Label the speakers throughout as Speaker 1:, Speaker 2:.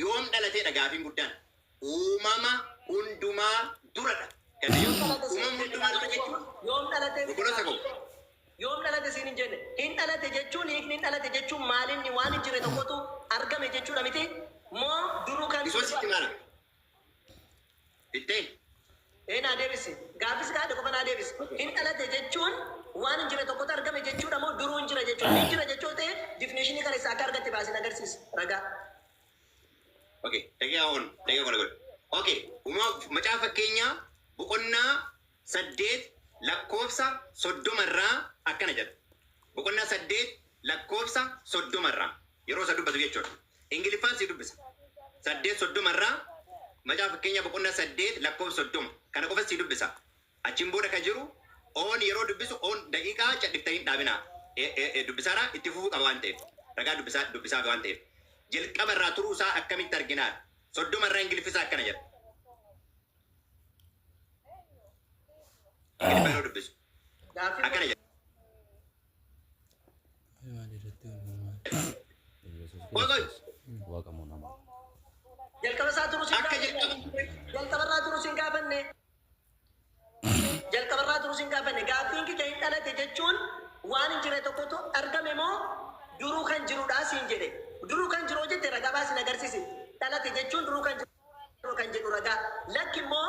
Speaker 1: yoom dhalateedha gaafiin guddaan? Uumama hundumaa duradha. Yoom Galatee? dhalate siin Uumama hin jenne hundumaa dura gaafiin jechuun koo? Yoom dhalate siin obboloota
Speaker 2: gaafiin koo?
Speaker 1: koo? Yoom dhalate
Speaker 2: siin hin jenne? Hin dhalate jechuun hiikni hin dhalate jechuun maalinni waan hin jirre tokkotu argame jechuudha mitii? Moo duruu kan Yesuusitti maal?
Speaker 1: Bitte? Ee naa
Speaker 2: deebisi. Gaaffii si gaafadhe qofa naa deebisi. Hin dhalate jechuun waan hin jirre tokkotu argame jechuudha moo duruu hin jira jechuudha? Hin jira jechuu yoo ta'e definition kana eessaa akka argatte baasii na agarsiisi. Ragaa.
Speaker 1: Ok daqiiqaa on daqiiqaa kana godhe. Ok uma macaafa fakkeenyaa boqonnaa saddeet lakkoofsa soddoma irraa akkana jedha. Boqonnaa saddeet lakkoofsa soddoma irraa yeroo isa dubbatu jechuudha. Ingiliffaan sii dubbisa. 8 30 irraa Macaafa Fakkeenyaa boqonnaa 8 lakkoofsa 30 kana qofas sii dubbisa. Achiin booda ka jiru oon yeroo dubbisu oon daqiiqaa cadhiftan hin dhaabinaa. E, e, e, dubbisaaraa itti fufuu qaba waan ta'eef. Ragaa dubbisaa, dubbisaafi waan ta'eef. Jalqaba irraa turuu isaa akkamitti arginaa? 30 irraa Ingiliffi isaa akkana jedha. Ingiliffa yeroo dubbisu. akkana jedha. Jalqaba isaa turu
Speaker 2: siin Akka jalqaba jalqabarraa turu siin gaafanne jalqabarraa turu siin gaafanne gaaffiin kiyya hin dhalate jechuun waan hin jirre tokkotu argame moo duruu kan jirudha siin jedhe duruu kan jiru jette ragaa baasin agarsiisi dhalate jechuun duruu kan jiru kan jedhu ragaa lakki immoo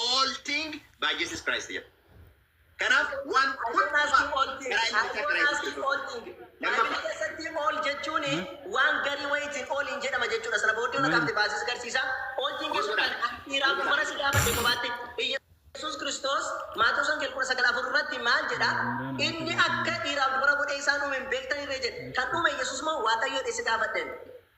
Speaker 1: All thing by Jesus Christ jedha. Kanaaf waan hundumaa karaa ilma isaa karaa Yesuus Kiristoos. Lammaffaa.
Speaker 2: keessatti ool jechuun waan garii wayiitiin ooliin jedhama jechuudha. Sana booddee ona kaafte baasisa garsiisa. Ooltiin jechuun kan dhiiraaf dubara si gaafate kophaatti. Yesuus Kiristoos Maatewos Wangeela 19:4 irratti maal jedha? Inni akka dhiiraaf dubara godhee isaan uume hin beektan irree jedhe. Kan uume Yesuus moo Waaqayyoodha isa gaafadheen?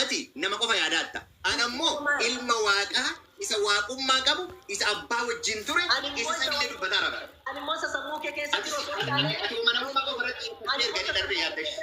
Speaker 1: Ati nama qofa yaadaatta. Ana immoo Ilma Waaqaa isa Waaqummaa qabu, isa Abbaa wajjin ture, isa
Speaker 2: samiillee dubbataara bara. Ati si'a kana namni ati amanamummaa qofa irratti xiyyeeffattee erga inni darbee yaadda ishii.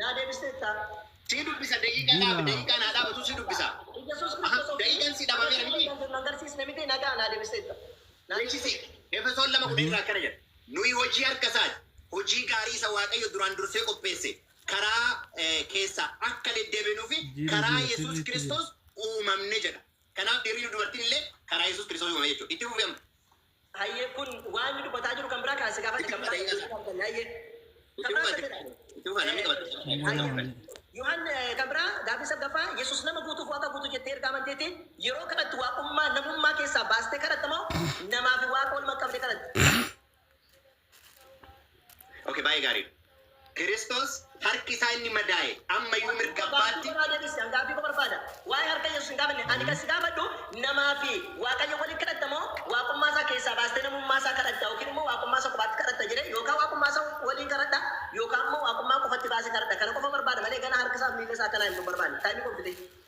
Speaker 1: Naa
Speaker 2: deebisteettaa? Sii dubbisa
Speaker 1: daqiiqa dhaabi daqiiqaa naa dhaabatu si dubbisa aha daqiiqan si dhabameera miti agarsiisne miti nagaa
Speaker 2: naa deebisteetta beeksise
Speaker 1: Efesoon 2:10 irraa akkana jedha nuyi hojii harka isaati hojii gaarii isa Waaqayyo duraan dursee qopheesse karaa keessa akka deddeebinuu fi karaa Yesuus Kiristoos uumamne jedha kanaaf dhiirri dubartiin illee karaa Yesuus Kiristoos uumame jechuudha itti fufi amma Hayyee kun
Speaker 2: waan inni dubbataa jiru kan biraa kaa si gaafadhe kan biraa iddoo itti arganne hayyee. Kan biraa akkas jedha. Hayyee. Yohan kan biraa gaaffii saggaffaa Yesuus nama guutuuf waaqa guutuu jettee ergaa amanteeti yeroo kadhattu waaqummaa namummaa keessaa baastee kadhatta moo namaa fi waaqa wal maqqabdee kadhatta?
Speaker 1: Ok, baay'ee gaarii dha. Kiristoos harki isaa inni madaa'e amma iyyuu mirga abbaatti. Gaaffii koo naa deebisi, an gaaffii koo barbaada.
Speaker 2: Waa'ee harka Yesuus hin gaafanne. Ani kan si gaafadhu namaa fi Waaqayyo waliin kadhatta moo Waaqummaa isaa keessaa baastee namummaa isaa kadhatta yookiin immoo Waaqummaa isa kophaatti kadhatta jedhee yookaan Waaqummaa isa waliin kadhadha yookaan immoo Waaqummaa qofatti baasee kadhadha. Kana qofan barbaada malee ganaa harka isaa fi miilla isaa akka naa himtu hin barbaanne. Time koo fixee.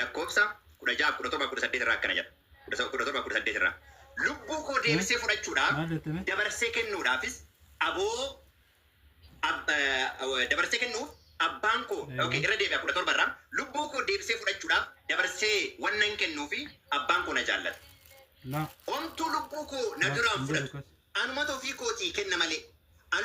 Speaker 1: Lakkoofsa 16, 17, 18 irraa akkana jedha. 17, 18 irraa. Lubbuu koo deebisee fudhachuudhaaf, Maal jettame? dabarsee kennuudhaafis aboo ab- eh, dabarsee kennuuf abbaan koo Eeyyee. okay, irra deebi'a 17 irraa lubbuu koo deebisee fudhachuudhaaf dabarsee waan nan kennuu fi abbaan koo na jaallata. Laa. Omtuu lubbuu koo na Laa, duraan hin jedhu fudhatu. kas. Anumatu ofii kootii kenna malee. An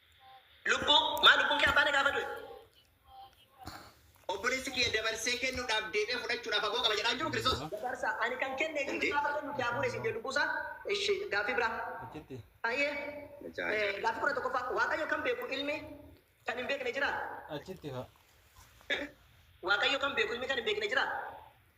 Speaker 1: Lubbuu
Speaker 2: maa lubbuun kee abbaa nagaa badu'e?
Speaker 1: Obboleessi kiyya dabarsee kennuudhaaf deebi'ee fudhachuudhaaf aboo qaba jedhaan jiru Kiristoos. Dabarsa ani kan kenne
Speaker 2: Dandee. jiru gaafa kennu daa bu'e sin jedhu lubbuu isaa. Ishi gaaffii biraa. Achitti. Ayyee. Dachaa Eh, isaa. Gaaffii kudha tokkoffaa Waaqayyo kan beeku ilmi kan hin beekne jiraa? Achitti haa. Waaqayyo kan beeku ilmi kan hin beekne jiraa?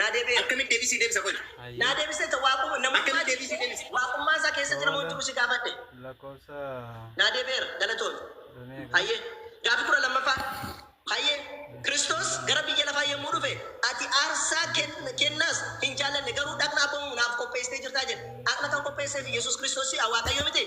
Speaker 1: Naa deebi'eera. Akkamitti
Speaker 2: deebii sii deebisa qoyi?
Speaker 1: Hayyee. Naa deebisee ta waaquma
Speaker 2: Akkamitti namummaa deebii kee sii
Speaker 1: deebisa? waaqummaa isaa keessatti nama
Speaker 2: Booda. jiru si gaafadhe. Lakkoofsa
Speaker 3: Naa deebi'eera.
Speaker 2: Galatoomi. Dumee kan. Hayyee. Gaaffii kudha lammaffaa. Hayyee. Kiristoos gara biyya lafaa yommuu dhufe ati aarsaa ken- kennaas hin jaallanne garuu dhaqna abboomuu naaf qopheessitee jirtaa jedhe. Dhaqna kan qopheesseef Yesuus Kiristoos si'a Waaqayyoo mitii?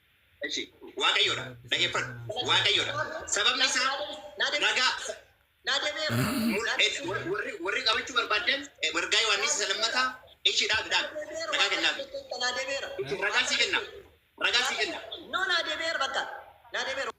Speaker 1: Eshi, Waaqayyo dha. Dhageeffadhu. Waaqayyo dha. Sababni isaa ragaa
Speaker 2: mul'ate warri warri qabachuu
Speaker 1: barbaadan eh, wargaa Yohaannis isa lammataa eshi dha midhaan ragaa kennaaf. Itti
Speaker 2: ragaa sii kenna.
Speaker 1: Ragaa sii kenna.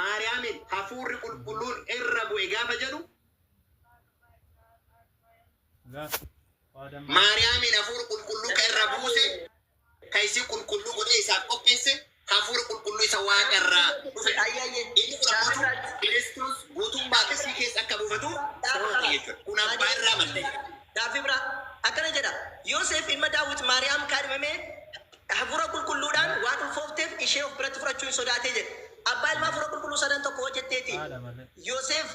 Speaker 1: Maariyaamiin hafuurri qulqulluun irra bu'e gaafa jedhu Maariyaamiin hafuura qulqulluu ka irra buuse ka isii qulqulluu godhee isaaf qopheesse hafuura qulqulluu isa waaqa irraa dhufe ayyaayyee inni kun ammoo Kiristoos guutummaatti isii keessa akka buufatu taasisa jechuudha. Kun abbaa irraa maddee. Gaaffii biraa
Speaker 2: akkana jedha, Yooseef ilma Daawit Maariyaam kaadhimame Hafuura Qulqulluudhaan waan ulfoofteef ishee of biratti fudhachuu in sodaate jedhe. Abbaa Ilmaa Hafuura Qulqulluu Sadan Tokko hojjetteeti. Yoseef,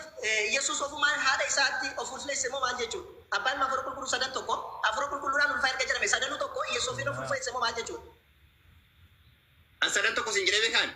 Speaker 2: Yesus ofumaan haadha isaatti of ulfeesse moo maal jechuu dha? Abbaa Ilmaa Hafuura Qulqulluu Sadan Tokko Hafuura Qulqulluudhaan ulfaa erga jedhame sadanuu tokko Yesus ofiin of ulfeesse moo maal jechuu dha? An sadan
Speaker 1: tokko siin jedhee beekaa ani?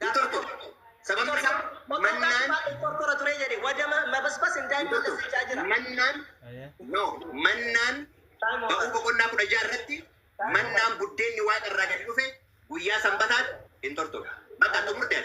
Speaker 2: hin turtu.
Speaker 1: Sababni isaa mannaan Qorqora ture jedhe
Speaker 2: wada mabasbas indaa hin balleessa jechaa jira. mannaan
Speaker 1: no mannaan ba'uu boqonnaa kudha ja'a irratti mannaan buddeenni waaqa irraa gadi dhufe guyyaa sanbataan hin turtu. Bakka xumurteef.